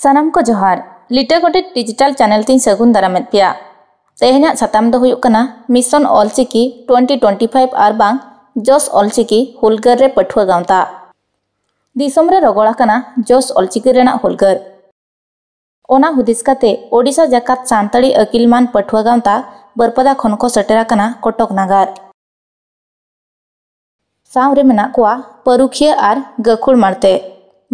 ᱥᱟᱱᱟᱢ ᱠᱚ ᱡᱚᱦᱟᱨ ᱞᱤᱴᱟᱹ ᱜᱚᱰᱮᱛ ᱰᱤᱡᱤᱴᱟᱞ ᱪᱟᱱᱮᱞ ᱛᱤᱧ ᱥᱟᱹᱜᱩᱱ ᱫᱟᱨᱟᱢᱮᱫ ᱯᱮᱭᱟ ᱛᱮᱦᱮᱧᱟᱜ ᱥᱟᱛᱟᱢ ᱫᱚ ᱦᱩᱭᱩᱜ ᱠᱟᱱᱟ mission Ol Chiki twenty twenty five ᱟᱨ ᱵᱟᱝ ᱡᱚᱥ ᱚᱞᱪᱤᱠᱤ ᱦᱩᱞᱜᱟᱹᱨ ᱨᱮ ᱯᱟᱹᱴᱷᱩᱣᱟᱹ ᱜᱟᱶᱛᱟ ᱫᱤᱥᱚᱢ ᱨᱮ ᱨᱚᱜᱚᱲ ᱟᱠᱟᱱᱟ ᱡᱚᱥ ᱚᱞᱪᱤᱠᱤ ᱨᱮᱱᱟᱜ ᱦᱩᱞᱜᱟᱹᱨ ᱚᱱᱟ ᱦᱩᱫᱤᱥ ᱠᱟᱛᱮ ᱳᱰᱤᱥᱟ ᱡᱟᱠᱟᱛ ᱥᱟᱱᱛᱟᱲᱤ ᱟᱹᱠᱤᱞ ᱢᱟᱱ ᱯᱟᱹᱴᱷᱩᱣᱟᱹ ᱜᱟᱶᱛᱟ ᱵᱟᱹᱨᱯᱟᱫᱟ ᱠᱷᱚᱱ ᱠᱚ ᱥᱮᱴᱮᱨ ᱟᱠᱟᱱᱟ ᱠᱚᱴᱚᱠ ᱱᱟᱜᱟᱨ ᱥᱟᱶ ᱨᱮ ᱢᱮᱱᱟᱜ ᱠᱚᱣᱟ ᱯᱟᱹᱨᱩᱠᱷᱤᱭᱟᱹ ᱟᱨ ᱜᱟᱹᱠᱷᱩᱲ ᱢᱟᱬᱛᱮ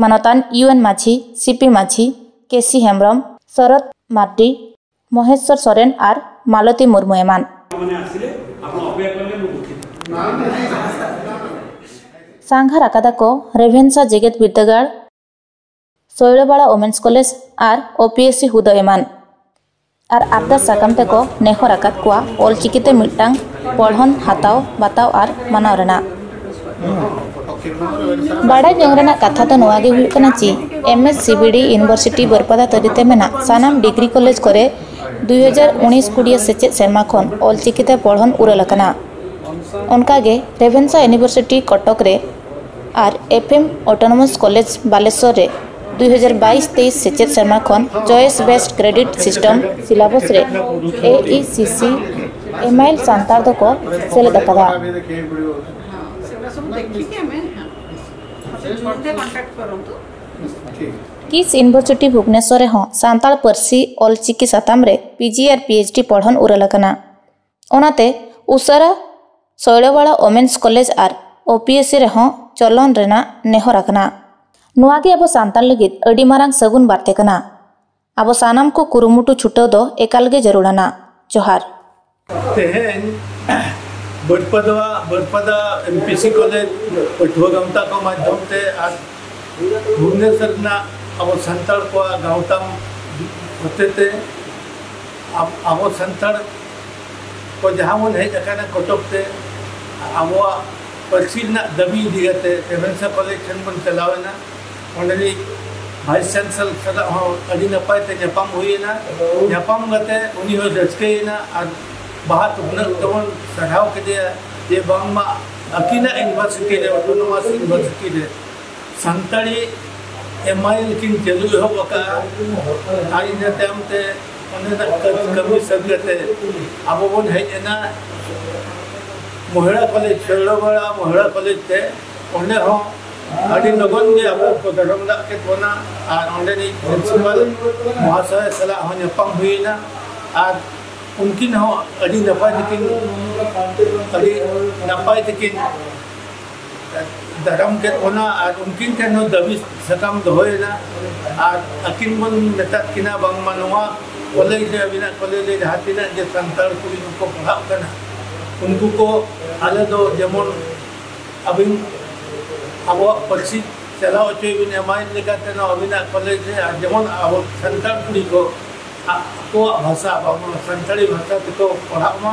ᱢᱟᱱᱚᱛᱟᱱ ᱤᱭᱩ ᱮᱱ ᱢᱟᱹᱡᱷᱤ ᱥᱤ ᱯᱤ ᱢᱟᱹᱡᱷᱤ ᱠᱮ ᱥᱤ ᱦᱮᱢᱵᱽᱨᱚᱢ, ᱥᱚᱨᱚᱛ ᱢᱟᱨᱰᱤ, ᱢᱚᱦᱮᱥᱥᱚᱨ ᱥᱚᱨᱮᱱ ᱟᱨ ᱢᱟᱞᱚᱛᱤ ᱢᱩᱨᱢᱩ ᱮᱢᱟᱱ᱾ ᱥᱟᱸᱜᱷᱟᱨ ᱟᱠᱟᱫᱟ ᱠᱚ ᱨᱮᱵᱷᱮᱱᱥᱟ ᱡᱮᱜᱮᱛ ᱵᱤᱨᱫᱟᱹᱜᱟᱲ᱾ ᱥᱚᱭᱲᱟᱵᱟᱲᱟ ᱳᱢᱮᱱᱥ ᱠᱚᱞᱮᱡᱽ ᱟᱨ ᱳᱯᱤᱮᱥᱥᱤ ᱦᱩᱫᱟᱹ ᱮᱢᱟᱱ ᱟᱨ ᱟᱨᱫᱟᱥ ᱥᱟᱠᱟᱢ ᱛᱮᱠᱚ ᱱᱮᱦᱚᱨ ᱟᱠᱟᱫ ᱠᱚᱣᱟ ᱚᱞᱪᱤᱠᱤᱛᱮ ᱢᱤᱫᱴᱟᱝ ᱯᱚᱲᱦᱚᱱ ᱦᱟᱛᱟᱣ ᱵᱟᱛᱟᱣ ᱟᱨ ᱢᱟᱱᱟᱣ ᱨᱮᱱᱟᱜ ᱵᱟᱰᱟᱭ ᱡᱚᱝ ᱨᱮᱱᱟᱜ ᱠᱟᱛᱷᱟ ᱫᱚ ᱱᱚᱣᱟ ᱜᱮ ᱦᱩᱭᱩᱜ ᱠᱟᱱᱟ ᱪᱤ M S C B D university Baripada ᱛᱟᱹᱨᱤᱛᱮ ᱢᱮᱱᱟᱜ ᱥᱟᱱᱟᱢ ᱰᱤᱜᱽᱨᱤ ᱠᱚᱞᱮᱡᱽ ᱠᱚᱨᱮ ᱫᱩᱭ ᱦᱟᱡᱟᱨ ᱩᱱᱤᱥ ᱠᱩᱲᱤᱭᱟᱹ ᱥᱮᱪᱮᱫ ᱥᱮᱨᱢᱟ ᱠᱷᱚᱱ ᱚᱞᱪᱤᱠᱤᱛᱮ ᱯᱚᱲᱦᱚᱱ ᱩᱨᱟᱹᱞ ᱟᱠᱟᱱᱟ ᱚᱱᱠᱟᱜᱮ ᱨᱮᱵᱷᱮᱱᱥᱟ ᱤᱭᱩᱱᱤᱵᱷᱟᱨᱥᱤᱴᱤ ᱠᱚᱴᱚᱠ ᱨᱮ ᱟᱨ F M autonomous college Balasore ᱨᱮ ᱫᱩ ᱦᱟᱡᱟᱨ ᱵᱟᱭᱤᱥ ᱛᱮᱭᱤᱥ ᱥᱮᱪᱮᱫ ᱥᱮᱨᱢᱟ ᱠᱷᱚᱱ choice based credit system syllabus ᱨᱮ ᱮ E C C M I L ᱥᱟᱱᱛᱟᱲ ᱫᱚᱠᱚ ᱥᱮᱞᱮᱫ ᱟᱠᱟᱫᱟ ᱠᱤᱥ ᱤᱱᱵᱷᱚᱨᱥᱤᱴᱤ ᱵᱷᱩᱵᱽᱱᱮᱥᱥᱚᱨ ᱨᱮᱦᱚᱸ ᱥᱟᱱᱛᱟᱲ ᱯᱟᱹᱨᱥᱤ ᱚᱞ ᱪᱤᱠᱤ ᱥᱟᱛᱟᱢ ᱨᱮ ᱯᱤ ᱡᱤ ᱟᱨ ᱯᱤ ᱮᱭᱤᱪ ᱰᱤ ᱯᱚᱲᱦᱚᱱ ᱩᱨᱟᱹᱞ ᱟᱠᱟᱱᱟ ᱚᱱᱟᱛᱮ ᱩᱥᱟᱹᱨᱟ ᱥᱚᱭᱲᱟᱵᱟᱲᱟ ᱳᱢᱮᱱᱥ ᱠᱚᱞᱮᱡᱽ ᱟᱨ ᱳ ᱯᱤ ᱮᱥ ᱥᱤ ᱨᱮᱦᱚᱸ ᱪᱚᱞᱚᱱ ᱨᱮᱱᱟᱜ ᱱᱮᱦᱚᱨ ᱟᱠᱟᱱᱟ ᱱᱚᱣᱟ ᱜᱮ ᱟᱵᱚ ᱥᱟᱱᱛᱟᱲ ᱞᱟᱹᱜᱤᱫ ᱟᱹᱰᱤ ᱢᱟᱨᱟᱝ ᱥᱟᱹᱜᱩᱱ ᱵᱟᱨᱛᱮ ᱠᱟᱱᱟ ᱟᱵᱚ ᱥᱟᱱᱟᱢ ᱠᱚ ᱠᱩᱨᱩᱢᱩᱴᱩ ᱪᱷᱩᱴᱟᱹᱣ ᱫᱚ ᱮᱠᱟᱞ ᱜᱮ ᱡᱟᱹᱨᱩᱲ ᱟᱱᱟ ᱡᱚᱦᱟᱨ ᱛᱮᱦᱮᱧ Baripada Baripada M P C college ᱯᱟᱹᱴᱷᱩᱣᱟᱹ ᱜᱟᱶᱛᱟ ᱠᱚ ᱢᱟᱫᱽᱫᱷᱚᱢ ᱛᱮ ᱟᱨ ᱵᱷᱩᱵᱽᱱᱮᱥᱚᱨ ᱨᱮᱱᱟᱜ ᱟᱵᱚ ᱥᱟᱱᱛᱟᱲ ᱠᱚᱣᱟᱜ ᱜᱟᱶᱛᱟ ᱦᱚᱛᱮᱛᱮ ᱟᱵᱚ ᱥᱟᱱᱛᱟᱲ ᱠᱚ ᱡᱟᱦᱟᱸ ᱵᱚᱱ ᱦᱮᱡ ᱟᱠᱟᱱᱟ ᱠᱚᱴᱚᱠ ᱛᱮ ᱟᱵᱚᱣᱟᱜ ᱯᱟᱹᱨᱥᱤ ᱨᱮᱱᱟᱜ ᱫᱟᱹᱵᱤ ᱤᱫᱤ ᱠᱟᱛᱮ ᱨᱮᱵᱷᱮᱱᱥᱟ ᱠᱚᱞᱮᱡᱽ ᱴᱷᱮᱱ ᱵᱚᱱ ᱪᱟᱞᱟᱣ ᱮᱱᱟ ᱚᱸᱰᱮ ᱨᱤᱡ ᱵᱷᱟᱭᱤᱥ ᱪᱟᱱᱥᱮᱞ ᱥᱟᱞᱟᱜ ᱦᱚᱸ ᱟᱹᱰᱤ ᱱᱟᱯᱟᱭ ᱛᱮ ᱧᱟᱯᱟᱢ ᱦᱩᱭᱮᱱᱟ ᱧᱟᱯᱟᱢ ᱠᱟᱛᱮ ᱩᱱᱤ ᱦᱚᱸ ᱨᱟᱹᱥᱠᱟᱹᱭᱮᱱᱟ ᱟᱨ ᱵᱟᱦᱟ ᱛᱩᱯᱱᱟᱹᱜ ᱛᱮᱵᱚᱱ ᱥᱟᱨᱦᱟᱣ ᱠᱮᱫᱮᱭᱟ ᱡᱮ ᱵᱟᱝᱢᱟ ᱟᱹᱠᱤᱱᱟᱜ ᱤᱭᱩᱱᱤᱵᱷᱟᱨᱥᱤᱴᱤ ᱨᱮ ᱚᱴᱳᱱᱳᱢᱟᱥ ᱤᱭᱩᱱᱤᱵᱷᱟᱨᱥᱤᱴᱤ ᱨᱮ ᱥᱟᱱᱛᱟᱲᱤ ᱮᱢ ᱟᱭ ᱮᱞ ᱠᱤᱱ ᱪᱟᱹᱞᱩ ᱮᱦᱚᱵ ᱟᱠᱟᱫᱼᱟ ᱟᱨ ᱤᱱᱟᱹ ᱛᱟᱭᱚᱢ ᱛᱮ ᱚᱸᱰᱮᱱᱟᱜ ᱠᱟᱹᱢᱤ ᱥᱟᱹᱛ ᱠᱟᱛᱮ ᱟᱵᱚ ᱵᱚᱱ ᱦᱮᱡ ᱮᱱᱟ ᱢᱚᱦᱤᱲᱟ ᱠᱚᱞᱮᱡᱽ ᱥᱚᱭᱲᱟᱵᱟᱲᱟ ᱢᱚᱦᱤᱲᱟ ᱠᱚᱞᱮᱡᱽ ᱛᱮ ᱚᱸᱰᱮ ᱦᱚᱸ ᱟᱹᱰᱤ ᱞᱚᱜᱚᱱ ᱜᱮ ᱟᱵᱚ ᱠᱚ ᱫᱟᱨᱟᱢ ᱫᱟᱜ ᱠᱮᱫ ᱵᱚᱱᱟ ᱟᱨ ᱚᱸᱰᱮᱱᱤᱡ ᱯᱨᱤᱱᱥᱤᱯᱟᱞ ᱢᱚᱦᱟᱥᱚᱭ ᱥᱟᱞᱟᱜ ᱦᱚᱸ ᱧᱟᱯᱟᱢ ᱦᱩᱭᱮᱱᱟ ᱟᱨ ᱩᱱᱠᱤᱱ ᱦᱚᱸ ᱟᱹᱰᱤ ᱱᱟᱯᱟᱭ ᱛᱮᱠᱤᱱ ᱟᱹᱰᱤ ᱱᱟᱯᱟᱭ ᱛᱮᱠᱤᱱ ᱫᱟᱰᱚᱢ ᱠᱮᱫ ᱵᱚᱱᱟ ᱟᱨ ᱩᱱᱠᱤᱱ ᱴᱷᱮᱱ ᱦᱚᱸ ᱫᱟᱹᱵᱤ ᱥᱟᱠᱟᱢ ᱫᱚᱦᱚᱭᱮᱱᱟ ᱟᱨ ᱟᱹᱠᱤᱱ ᱵᱚᱱ ᱢᱮᱛᱟᱫ ᱠᱤᱱᱟ ᱵᱟᱝᱢᱟ ᱱᱚᱣᱟ ᱠᱚᱞᱮᱡᱽ ᱨᱮ ᱟᱹᱵᱤᱱᱟᱜ ᱠᱚᱞᱮᱡᱽ ᱨᱮ ᱡᱟᱦᱟᱸ ᱛᱤᱱᱟᱹᱜ ᱜᱮ ᱥᱟᱱᱛᱟᱲ ᱠᱩᱲᱤ ᱠᱚᱠᱚ ᱯᱟᱲᱦᱟᱜ ᱠᱟᱱᱟ ᱩᱱᱠᱩ ᱠᱚ ᱟᱞᱮ ᱫᱚ ᱡᱮᱢᱚᱱ ᱟᱹᱵᱤᱱ ᱟᱵᱚᱣᱟᱜ ᱯᱟᱹᱨᱥᱤ ᱪᱟᱞᱟᱣ ᱦᱚᱪᱚᱭ ᱵᱤᱱ ᱮᱢᱟᱭ ᱞᱮᱠᱟᱛᱮ ᱱᱚᱣᱟ ᱟᱹᱵᱤᱱᱟᱜ ᱠᱚᱞᱮᱡᱽ ᱨᱮ ᱟᱨ ᱡᱮᱢᱚᱱ ᱟᱵᱚ ᱥᱟᱱᱛᱟᱲ ᱠᱩᱲᱤ ᱠᱚ ᱟᱠᱚᱣᱟᱜ ᱵᱷᱟᱥᱟ ᱵᱟᱝᱢᱟ ᱥᱟᱱᱛᱟᱲᱤ ᱵᱷᱟᱥᱟ ᱛᱮᱠᱚ ᱯᱟᱲᱦᱟᱜ ᱢᱟ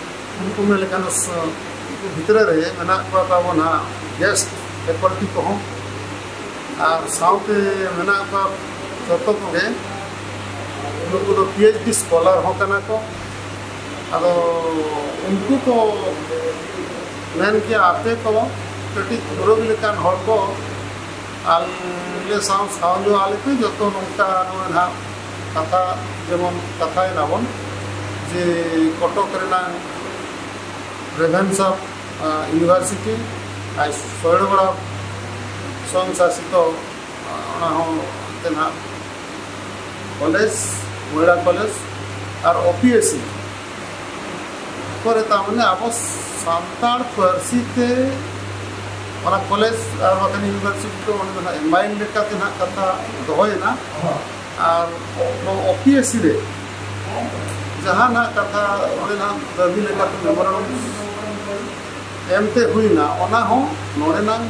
ᱩᱱᱠᱩ ᱢᱮᱱ ᱞᱮᱠᱷᱟᱱ ᱩᱱᱠᱩ ᱵᱷᱤᱛᱨᱤ ᱨᱮ ᱢᱮᱱᱟᱜ ᱠᱚᱣᱟ ᱛᱟᱵᱚᱱ ᱦᱟᱸᱜ ᱜᱮᱥ ᱯᱷᱮᱠᱚᱞᱴᱤ ᱠᱚᱦᱚᱸ ᱟᱨ ᱥᱟᱶᱛᱮ ᱢᱮᱱᱟᱜ ᱠᱚᱣᱟ ᱡᱚᱛᱚ ᱠᱚᱜᱮ ᱱᱩᱠᱩ ᱫᱚ ᱯᱤ ᱮᱭᱤᱪ ᱰᱤ ᱥᱠᱚᱞᱟᱨ ᱦᱚᱸ ᱠᱟᱱᱟ ᱠᱚ ᱟᱫᱚ ᱩᱱᱠᱩ ᱠᱚ ᱢᱮᱱ ᱠᱮᱭᱟ ᱟᱯᱮ ᱠᱚ ᱠᱟᱹᱴᱤᱡ ᱯᱩᱨᱟᱹᱣ ᱞᱮᱠᱟᱱ ᱦᱚᱲ ᱠᱚ ᱟᱞᱮ ᱥᱟᱶ ᱥᱟᱶ ᱧᱚᱜ ᱟᱞᱮ ᱯᱮ ᱡᱚᱛᱚ ᱱᱚᱝᱠᱟ ᱱᱚᱜᱼᱚᱭ ᱱᱟᱦᱟᱜ ᱠᱟᱛᱷᱟ ᱡᱮᱢᱚᱱ ᱠᱟᱛᱷᱟᱭ ᱱᱟᱵᱚᱱ ᱡᱮ ᱠᱚᱴᱚᱠ ᱨᱮᱱᱟᱜ ᱨᱮᱵᱷᱮᱱᱥᱟ ᱤᱭᱩᱱᱤᱵᱷᱟᱨᱥᱤᱴᱤ ᱟᱨ ᱥᱚᱭᱲᱵᱟᱲᱟ ᱥᱚᱝ ᱥᱟᱥᱤᱛᱚ ᱚᱱᱟ ᱦᱚᱸ ᱮᱱᱛᱮ ᱱᱟᱜ ᱠᱚᱞᱮᱡᱽ ᱢᱚᱭᱲᱟ ᱠᱚᱞᱮᱡᱽ ᱟᱨ ᱚᱯᱤᱭᱮᱥᱤ ᱠᱚᱨᱮ ᱛᱟᱨᱢᱟᱱᱮ ᱟᱵᱚ ᱥᱟᱱᱛᱟᱲ ᱯᱟᱹᱨᱥᱤ ᱛᱮ ᱚᱱᱟ ᱠᱚᱞᱮᱡᱽ ᱟᱨ ᱵᱟᱠᱷᱟᱱ ᱤᱭᱩᱱᱤᱵᱷᱟᱨᱥᱤᱴᱤ ᱫᱚ ᱚᱸᱰᱮ ᱫᱚ ᱱᱟᱜ ᱮᱢ ᱟᱭ ᱮᱞ ᱞᱮᱠᱟᱛᱮ ᱱᱟᱜ ᱠᱟᱛᱷᱟ ᱫᱚᱦᱚᱭᱮᱱᱟ ᱟᱨ ᱱᱚᱣᱟ ᱚᱯᱤᱭᱮᱥᱤ ᱨᱮ ᱡᱟᱦᱟᱱᱟᱜ ᱠᱟᱛᱷᱟ ᱚᱸᱰᱮᱱᱟᱜ ᱫᱟᱹᱵᱤ ᱞᱮᱠᱟᱛᱮ ᱢᱮᱢᱚᱨᱟᱱᱰᱚᱢ ᱮᱢᱛᱮ ᱦᱩᱭᱱᱟ ᱚᱱᱟ ᱦᱚᱸ ᱱᱚᱰᱮᱱᱟᱝ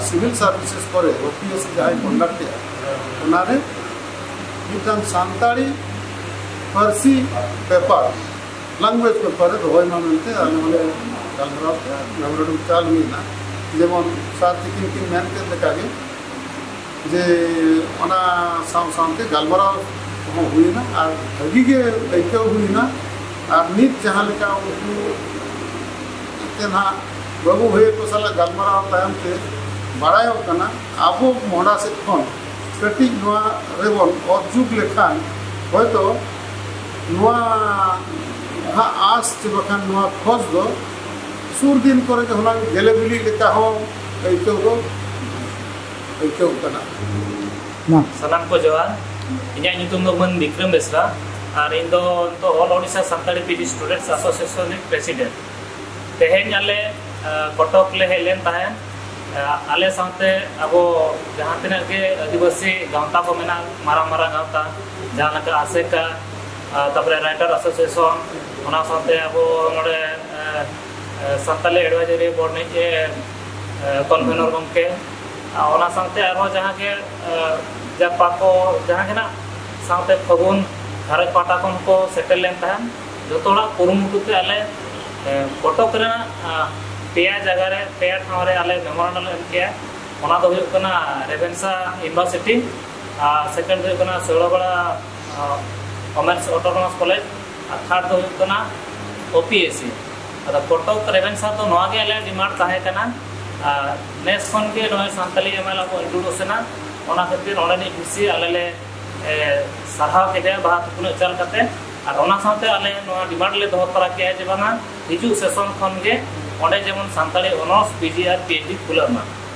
ᱥᱤᱵᱤᱞ ᱥᱟᱨᱵᱷᱤᱥᱮᱥ ᱠᱚᱨᱮ ᱚᱯᱤᱭᱮᱥᱤ ᱡᱟᱦᱟᱸᱭ ᱠᱚᱱᱰᱟᱠᱴ ᱮᱫᱟ ᱚᱱᱟᱨᱮ ᱢᱤᱫᱴᱟᱝ ᱥᱟᱱᱛᱟᱲᱤ ᱯᱟᱹᱨᱥᱤ ᱯᱮᱯᱟᱨ ᱞᱟᱝᱜᱩᱭᱮᱡᱽ ᱯᱮᱯᱟᱨ ᱨᱮ ᱫᱚᱦᱚᱭ ᱢᱟ ᱢᱮᱱᱛᱮ ᱟᱞᱮ ᱦᱚᱸᱞᱮ ᱜᱟᱞᱢᱟᱨᱟᱣ ᱠᱮᱫᱟ ᱢᱮᱢᱚᱨᱟᱱᱰᱚᱢ ᱪᱟᱞ ᱦᱩᱭᱱᱟ ᱡᱮᱢᱚᱱ ᱥᱟᱨ ᱛᱤᱠᱤᱱ ᱠᱤᱱ ᱢᱮᱱ ᱠᱮᱫ ᱞᱮᱠᱟᱜᱮ ᱡᱮ ᱚᱱᱟ ᱥᱟᱶ ᱥᱟᱶᱛᱮ ᱜᱟᱞᱢᱟᱨᱟᱣ ᱦᱚᱸ ᱦᱩᱭᱮᱱᱟ ᱟᱨ ᱵᱷᱟᱹᱜᱤ ᱜᱮ ᱟᱹᱭᱠᱟᱹᱣ ᱦᱩᱭᱮᱱᱟ ᱟᱨ ᱱᱤᱛ ᱡᱟᱦᱟᱸ ᱞᱮᱠᱟ ᱩᱱᱠᱩ ᱮᱱᱛᱮ ᱱᱟᱦᱟᱜ ᱵᱟᱹᱵᱩ ᱵᱷᱟᱹᱭᱟᱹ ᱠᱚ ᱥᱟᱞᱟᱜ ᱜᱟᱞᱢᱟᱨᱟᱣ ᱛᱟᱭᱚᱢ ᱛᱮ ᱵᱟᱲᱟᱭᱚᱜ ᱠᱟᱱᱟ ᱟᱵᱚ ᱢᱚᱦᱰᱟ ᱥᱮᱫ ᱠᱷᱚᱱ ᱠᱟᱹᱴᱤᱡ ᱱᱚᱣᱟ ᱨᱮᱵᱚᱱ ᱚᱛ ᱡᱩᱛ ᱞᱮᱠᱷᱟᱱ ᱦᱚᱭᱛᱳ ᱱᱚᱣᱟ ᱦᱟᱸᱜ ᱟᱸᱥ ᱪᱮ ᱵᱟᱠᱷᱟᱱ ᱱᱚᱣᱟ ᱠᱷᱚᱡᱽ ᱫᱚ ᱥᱩᱨ ᱫᱤᱱ ᱠᱚᱨᱮ ᱜᱮ ᱦᱩᱱᱟᱹᱝ ᱜᱮᱞᱮ ᱵᱤᱞᱤᱜ ᱞᱮᱠᱟ ᱦᱚᱸ ᱟᱹᱭᱠᱟᱹᱣ ᱫᱚ ᱟᱹᱭᱠᱟᱹᱣ ᱠᱟᱱᱟ ᱢᱟ ᱥᱟᱱᱟᱢ ᱠᱚ ᱡᱚᱦᱟᱨ ᱤᱧᱟᱹᱜ ᱧᱩᱛᱩᱢ ᱫᱚ ᱢᱟᱹᱱ ᱵᱤᱠᱨᱚᱢ ᱵᱮᱥᱨᱟ ᱟᱨ ᱤᱧ ᱫᱚ ᱱᱤᱛᱚᱜ all Odisha Santali PG students association ᱨᱤᱱ ᱯᱨᱮᱥᱤᱰᱮᱱᱴ ᱛᱮᱦᱮᱧ ᱟᱞᱮ ᱠᱚᱴᱚᱠ ᱞᱮ ᱦᱮᱡ ᱞᱮᱱ ᱛᱟᱦᱮᱸᱫ ᱟᱞᱮ ᱥᱟᱶᱛᱮ ᱟᱵᱚ ᱡᱟᱦᱟᱸ ᱛᱤᱱᱟᱹᱜ ᱜᱮ ᱟᱹᱫᱤᱵᱟᱹᱥᱤ ᱜᱟᱶᱛᱟ ᱠᱚ ᱢᱮᱱᱟᱜ ᱢᱟᱨᱟᱝ ᱢᱟᱨᱟᱝ ᱜᱟᱶᱛᱟ ᱡᱟᱦᱟᱸ ᱞᱮᱠᱟ ᱟᱥᱮᱠᱟ ᱛᱟᱨᱯᱚᱨᱮ ᱨᱟᱭᱴᱟᱨ ᱟᱥᱳᱥᱤᱭᱮᱥᱚᱱ ᱚᱱᱟ ᱥᱟᱶᱛᱮ ᱟᱵᱚ ᱱᱚᱰᱮ ᱥᱟᱱᱛᱟᱞᱤ ᱮᱰᱵᱷᱟᱭᱡᱟᱨᱤ ᱵᱳᱨᱰ ᱨᱤᱱᱤᱡ ᱠᱚᱱᱵᱷᱮᱱᱚᱨ ᱜᱚᱢᱠᱮ ᱚᱱᱟ ᱥᱟᱶᱛᱮ ᱟᱨᱦᱚᱸ ᱡᱟᱦᱟᱸ ᱜᱮ ᱡᱟᱯᱟ ᱠᱚ ᱡᱟᱦᱟᱸ ᱜᱮ ᱱᱟᱜ ᱥᱟᱶᱛᱮ ᱯᱷᱟᱹᱜᱩᱱ ᱜᱷᱟᱨᱚᱸᱡᱽ ᱯᱟᱦᱴᱟ ᱠᱷᱚᱱ ᱠᱚ ᱥᱮᱴᱮᱨ ᱞᱮᱱ ᱛᱟᱦᱮᱸᱫ ᱡᱚᱛᱚ ᱦᱚᱲᱟᱜ ᱠᱩᱨᱩᱢᱩᱴᱩ ᱛᱮ ᱟᱞᱮ ᱠᱚᱴᱚᱠ ᱨᱮᱱᱟᱜ ᱯᱮᱭᱟ ᱡᱟᱭᱜᱟ ᱨᱮ ᱯᱮᱭᱟ ᱴᱷᱟᱶ ᱨᱮ ᱟᱞᱮ ᱢᱮᱢᱳᱨᱟᱱᱰᱚᱢ ᱞᱮ ᱮᱢ ᱠᱮᱜᱼᱟ ᱚᱱᱟ ᱫᱚ ᱦᱩᱭᱩᱜ ᱠᱟᱱᱟ ᱨᱮᱵᱷᱮᱱᱥᱟ ᱤᱭᱩᱱᱤᱵᱷᱟᱨᱥᱤᱴᱤ ᱟᱨ ᱥᱮᱠᱮᱱᱰ ᱦᱩᱭᱩᱜ ᱠᱟᱱᱟ ᱥᱳᱲᱟᱵᱟᱲᱟ ᱠᱚᱢᱟᱨᱥ ᱚᱴᱳᱱᱚᱢᱟᱥ ᱠᱚᱞᱮᱡᱽ ᱟᱨ ᱛᱷᱟᱨᱰ ᱫᱚ ᱦᱩᱭᱩᱜ ᱠᱟᱱᱟ ᱳᱯᱤᱮᱥᱤ ᱟᱫᱚ ᱠᱚᱴᱚᱠ ᱨᱮᱵᱷᱮᱱᱥᱟ ᱫᱚ ᱱᱚᱣᱟ ᱜᱮ ᱟᱞᱮᱭᱟᱜ ᱰᱤᱢᱟᱱᱰ ᱛᱟᱦᱮᱸ ᱠᱟᱱᱟ ᱟᱨ ᱱᱮᱥ ᱠᱷᱚᱱ ᱜᱮ ᱱᱚᱜᱼᱚᱭ ᱥᱟᱱᱛᱟᱞᱤ ᱮᱢᱮᱞ ᱟᱵᱚ ᱤᱱᱴᱨᱳᱰᱩᱥ ᱮᱱᱟ ᱚᱱᱟ ᱠᱷᱟᱹᱛᱤᱨ ᱚᱸᱰᱮᱱᱤᱡ ᱵᱷᱤᱥᱤ ᱟᱞᱮ ᱞᱮ ᱥᱟᱨᱦᱟᱣ ᱠᱮᱫᱮᱭᱟ ᱵᱟᱦᱟ ᱛᱩᱯᱩᱱᱟᱜ ᱪᱟᱞ ᱠᱟᱛᱮ ᱟᱨ ᱚᱱᱟ ᱥᱟᱶᱛᱮ ᱟᱞᱮ ᱱᱚᱣᱟ ᱰᱤᱢᱟᱱᱰ ᱞᱮ ᱫᱚᱦᱚ ᱛᱚᱨᱟ ᱠᱮᱫᱼᱟ ᱡᱮ ᱵᱟᱝᱟ ᱦᱤᱡᱩᱜ ᱥᱮᱥᱚᱱ ᱠᱷᱚᱱ ᱜᱮ ᱚᱸᱰᱮ ᱡᱮᱢᱚᱱ ᱥᱟᱱᱛᱟᱲᱤ ᱚᱱᱚᱨᱥ ᱯᱤᱡᱤ ᱟᱨ ᱯᱤᱮᱭᱤᱪᱰᱤ ᱠᱷᱩᱞᱟᱹᱜ ᱢᱟ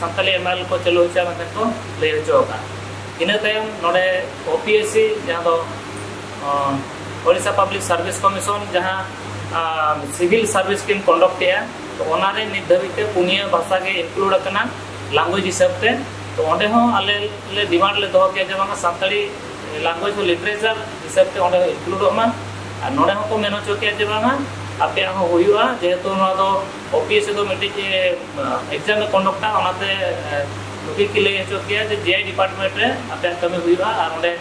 ᱥᱟᱱᱛᱟᱞᱤ ᱮᱢᱮᱞ ᱠᱚ ᱪᱟᱹᱞᱩ ᱦᱚᱪᱚᱭᱟ ᱢᱮᱱᱛᱮ ᱠᱚ ᱞᱟᱹᱭ ᱦᱚᱪᱚ ᱟᱠᱟᱫᱼᱟ ᱤᱱᱟᱹ ᱛᱟᱭᱚᱢ ᱱᱚᱰᱮ ᱳᱯᱤᱮᱥᱥᱤ ᱡᱟᱦᱟᱸ ᱫᱚ ᱳᱰᱤᱥᱟ ᱯᱟᱵᱽᱞᱤᱠ ᱥᱟᱨᱵᱷᱤᱥ ᱠᱚᱢᱤᱥᱚᱱ ᱡᱟᱦᱟᱸ ᱥᱤᱵᱷᱤᱞ ᱥᱟᱨᱵᱷᱤᱥ ᱠᱤᱱ ᱠᱚᱱᱰᱚᱠᱴ ᱮᱜᱼᱟ ᱛᱚ ᱚᱱᱟᱨᱮ ᱱᱤᱛ ᱫᱷᱟᱹᱵᱤᱡ ᱛᱮ ᱯᱩᱱᱭᱟᱹ ᱵᱷᱟᱥᱟ ᱜᱮ ᱤᱱᱠᱞᱩᱰ ᱟᱠᱟᱱᱟ ᱞᱟᱝᱜᱩᱭᱮᱡᱽ ᱦᱤᱥᱟᱹᱵ ᱛᱮ ᱛᱚ ᱚᱸᱰᱮ ᱦᱚᱸ ᱟᱞᱮ ᱞᱮ ᱰᱤᱢᱟᱱᱰ ᱞᱮ ᱫᱚᱦᱚ ᱠᱮᱫᱼᱟ ᱡᱮ ᱵᱟᱝᱟ ᱥᱟᱱᱛᱟᱲᱤ ᱞᱟᱝᱜᱩᱭᱮᱡᱽ ᱦᱚᱸ ᱞᱤᱴᱟᱨᱮᱪᱟᱨ ᱦᱤᱥᱟᱹᱵ ᱛᱮ ᱚᱸᱰᱮ ᱤᱱᱠᱞᱩᱰᱚᱜ ᱢᱟ ᱟᱨ ᱱᱚᱰᱮ ᱦᱚᱸᱠᱚ ᱢᱮᱱ ᱦᱚᱪᱚ ᱠᱮᱫᱼᱟ ᱡᱮ ᱵᱟᱝᱟ ᱟᱯᱮᱭᱟᱜ ᱦᱚᱸ ᱦᱩᱭᱩᱜᱼᱟ ᱡᱮᱦᱮᱛᱩ ᱱᱚᱣᱟ ᱫᱚ ᱳᱯᱤᱮᱥ ᱫᱚ ᱢᱤᱫᱴᱤᱡ ᱮᱠᱡᱟᱢ ᱮ ᱠᱚᱱᱰᱚᱠᱴᱟ ᱚᱱᱟᱛᱮ ᱱᱩᱠᱤᱱ ᱠᱤᱱ ᱞᱟᱹᱭ ᱦᱚᱪᱚ ᱠᱮᱭᱟ ᱡᱮ ᱡᱮ ᱰᱤᱯᱟᱨᱴᱢᱮᱱᱴ ᱨᱮ ᱟᱯᱮᱭᱟᱜ ᱠᱟᱹᱢᱤ ᱦᱩᱭᱩᱜᱼᱟ ᱟᱨ ᱚᱸᱰᱮ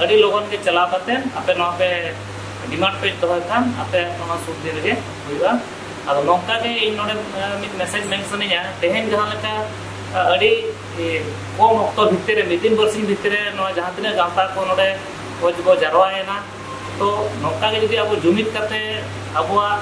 ᱟᱹᱰᱤ ᱞᱚᱜᱚᱱ ᱜᱮ ᱪᱟᱞᱟᱣ ᱠᱟᱛᱮ ᱟᱯᱮ ᱱᱚᱣᱟ ᱯᱮ ᱰᱤᱢᱟᱱᱰ ᱯᱮ ᱫᱚᱦᱚᱭ ᱠᱷᱟᱱ ᱟᱯᱮ ᱱᱚᱣᱟ ᱥᱩᱨ ᱫᱤᱱ ᱨᱮᱜᱮ ᱦᱩᱭᱩᱜᱼᱟ ᱟᱫᱚ ᱱᱚᱝᱠᱟ ᱜᱮ ᱤᱧ ᱱᱚᱰᱮ ᱢᱤᱫ ᱢᱮᱥᱮᱡᱽ ᱢᱮᱱ ᱥᱟᱱᱟᱧᱟ ᱛᱮᱦᱮᱧ ᱡᱟᱦᱟᱸ ᱞᱮᱠᱟ ᱟᱹᱰᱤ ᱠᱚᱢ ᱚᱠᱛᱚ ᱵᱷᱤᱛᱤᱨ ᱨᱮ ᱢᱤᱫ ᱫᱤᱱ ᱵᱟᱨᱥᱤᱧ ᱵᱷᱤᱛᱤᱨ ᱨᱮ ᱱᱚᱣᱟ ᱡᱟᱦᱟᱸ ᱛᱤᱱᱟᱹᱜ ᱜᱟᱶᱛᱟ ᱠᱚ ᱱᱚᱰᱮ ᱠᱷᱚᱡᱽ ᱵᱚ ᱡᱟᱨᱣᱟᱭᱮᱱᱟ ᱛᱚ ᱱᱚᱝᱠᱟ ᱜᱮ ᱡᱩᱫᱤ ᱟᱵᱚ ᱡᱩᱢᱤᱫ ᱠᱟᱛᱮ ᱟᱵᱚᱣᱟᱜ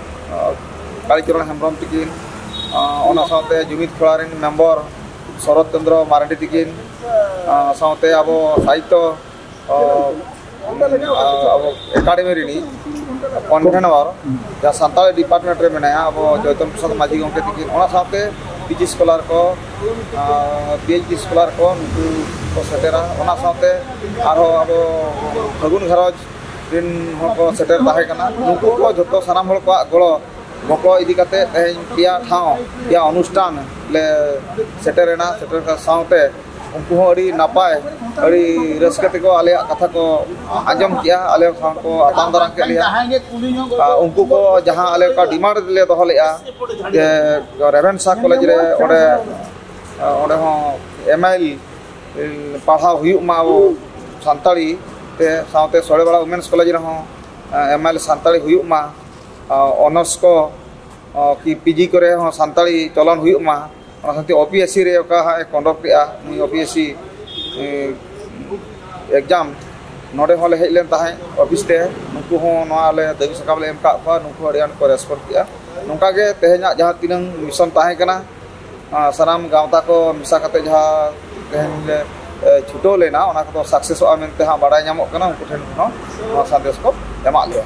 ᱠᱟᱞᱤᱪᱚᱨᱚᱱ ᱦᱮᱢᱵᱨᱚᱢ ᱛᱤᱠᱤᱱ ᱚᱱᱟ ᱥᱟᱶᱛᱮ ᱡᱩᱢᱤᱫ ᱠᱷᱚᱲᱟ ᱨᱮᱱ ᱢᱮᱢᱵᱚᱨ ᱥᱚᱨᱚᱛ ᱪᱚᱱᱫᱨᱚ ᱢᱟᱨᱟᱰᱤ ᱛᱤᱠᱤᱱ ᱥᱟᱶᱛᱮ ᱟᱵᱚ ᱥᱟᱦᱤᱛᱛᱚ ᱟᱵᱚ ᱮᱠᱟᱰᱮᱢᱤ ᱨᱤᱱᱤᱡ ᱠᱚᱱᱵᱷᱮᱱᱚᱨ ᱡᱟᱦᱟᱸ ᱥᱟᱱᱛᱟᱲᱤ ᱰᱤᱯᱟᱨᱴᱢᱮᱱᱴ ᱨᱮ ᱢᱮᱱᱟᱭᱟ ᱟᱵᱚ ᱡᱚᱭᱛᱚᱱ ᱯᱨᱚᱥᱟᱫᱽ ᱢᱟᱹᱡᱷᱤ ᱜᱚᱢᱠᱮ ᱛᱤᱠᱤᱱ ᱚᱱᱟ ᱥᱟᱶᱛᱮ ᱯᱤᱡᱤ ᱥᱠᱚᱞᱟᱨ ᱠᱚ ᱯᱤᱮᱭᱤᱪᱰᱤ ᱥᱠᱚᱞᱟᱨ ᱠᱚ ᱱᱩᱠᱩ ᱠᱚ ᱥᱮᱴᱮᱨᱟ ᱚᱱᱟ ᱥᱟᱶᱛᱮ ᱟᱨᱦᱚᱸ ᱟᱵᱚ ᱯᱷᱟᱹᱜᱩᱱ ᱜᱷᱟᱨᱚᱸᱡᱽ ᱨᱮᱱ ᱦᱚᱲ ᱠᱚ ᱥᱮᱴᱮᱨ ᱛᱟᱦᱮᱸ ᱠᱟᱱᱟ ᱱᱩᱠᱩ ᱠᱚ ᱡᱚᱛᱚ ᱥᱟᱱᱟᱢ ᱦᱚᱲ ᱠᱚᱣᱟᱜ ᱜᱚᱲᱚ ᱜᱚᱯᱚᱲᱚ ᱤᱫᱤ ᱠᱟᱛᱮ ᱛᱮᱦᱮᱧ ᱯᱮᱭᱟ ᱴᱷᱟᱶ ᱯᱮᱭᱟ ᱚᱱᱩᱥᱴᱷᱟᱱ ᱞᱮ ᱥᱮᱴᱮᱨᱮᱱᱟ ᱥᱮᱴᱮᱨ ᱥᱟᱶᱛᱮ ᱩᱱᱠᱩ ᱦᱚᱸ ᱟᱹᱰᱤ ᱱᱟᱯᱟᱭ ᱟᱹᱰᱤ ᱨᱟᱹᱥᱠᱟᱹ ᱛᱮᱠᱚ ᱟᱞᱮᱭᱟᱜ ᱠᱟᱛᱷᱟ ᱠᱚ ᱟᱸᱡᱚᱢ ᱠᱮᱜᱼᱟ ᱟᱞᱮ ᱥᱟᱶ ᱠᱚ ᱟᱛᱟᱝ ᱫᱟᱨᱟᱢ ᱠᱮᱫ ᱞᱮᱭᱟ ᱟᱨ ᱩᱱᱠᱩ ᱠᱚ ᱡᱟᱦᱟᱸ ᱟᱞᱮ ᱠᱚ ᱰᱤᱢᱟᱱᱰ ᱞᱮ ᱫᱚᱦᱚ ᱞᱮᱫᱼᱟ ᱡᱮ ᱨᱮᱵᱷᱮᱱᱥᱟ ᱠᱚᱞᱮᱡᱽ ᱨᱮ ᱚᱸᱰᱮ ᱚᱸᱰᱮ ᱦᱚᱸ ᱮᱢ ᱟᱭ ᱮᱞ ᱯᱟᱲᱦᱟᱣ ᱦᱩᱭᱩᱜ ᱢᱟ ᱟᱵᱚ ᱥᱟᱱᱛᱟᱲᱤ ᱛᱮ ᱥᱟᱶᱛᱮ ᱥᱚᱲᱮᱵᱟᱲᱟ ᱣᱩᱢᱮᱱᱥ ᱠᱚᱞᱮᱡᱽ ᱨᱮᱦᱚᱸ ᱮᱢ ᱮ ᱥᱟᱱᱛᱟᱲᱤ ᱦᱩᱭᱩᱜ ᱢᱟ ᱚᱱᱟᱨᱥ ᱠᱚ ᱠᱤ ᱯᱤ ᱡᱤ ᱠᱚᱨᱮ ᱦᱚᱸ ᱥᱟᱱᱛᱟᱲᱤ ᱪᱚᱞᱚᱱ ᱦᱩᱭᱩᱜ ᱢᱟ ᱚᱱᱟ ᱥᱟᱶᱛᱮ ᱳ ᱯᱤ ᱮᱥ ᱥᱤ ᱨᱮ ᱚᱠᱟ ᱦᱟᱸᱜ ᱮ ᱠᱚᱱᱰᱚᱠᱴ ᱮᱫᱼᱟ ᱱᱩᱭ O P S C exam ᱱᱚᱰᱮ ᱦᱚᱸᱞᱮ ᱦᱮᱡ ᱞᱮᱱ ᱛᱟᱦᱮᱸᱫ ᱚᱯᱷᱤᱥ ᱛᱮ ᱱᱩᱠᱩ ᱦᱚᱸ ᱱᱚᱣᱟ ᱟᱞᱮ ᱫᱟᱹᱵᱤ ᱥᱟᱠᱟᱢ ᱞᱮ ᱮᱢ ᱟᱠᱟᱫ ᱠᱚᱣᱟ ᱱᱩᱠᱩ ᱦᱚᱸ ᱟᱹᱰᱤ ᱟᱸᱴ ᱠᱚ ᱨᱮᱥᱯᱚᱱᱰ ᱠᱮᱫᱼᱟ ᱱᱚᱝᱠᱟ ᱜᱮ ᱛᱮᱦᱮᱧᱟᱜ ᱡᱟᱦᱟᱸ ᱛᱤᱱᱟᱹᱝ ᱢᱤᱥᱚᱱ ᱛᱟᱦᱮᱸ ᱠᱟᱱᱟ ᱥᱟᱱᱟᱢ ᱜᱟᱶᱛᱟ ᱠᱚ ᱢᱮᱥᱟ ᱠᱟᱛᱮ ᱡᱟᱦᱟᱸ ᱛᱮᱦᱮᱧ ᱞᱮ ᱪᱷᱩᱴᱟᱹᱣ ᱞᱮᱱᱟ ᱚᱱᱟ ᱠᱚᱫᱚ ᱥᱟᱠᱥᱮᱥᱚᱜᱼᱟ ᱢᱮᱱᱛᱮ ᱦᱟᱸᱜ ᱵᱟᱲᱟᱭ ᱧᱟᱢᱚᱜ ᱠᱟᱱᱟ ᱩᱱᱠᱩ ᱴᱷᱮᱱ ᱠᱷᱚᱱ ᱦᱚᱸ ᱱᱚᱣᱟ ᱥᱟᱸᱫᱮᱥ ᱠᱚ ᱮᱢᱟᱜ ᱞᱮᱭᱟ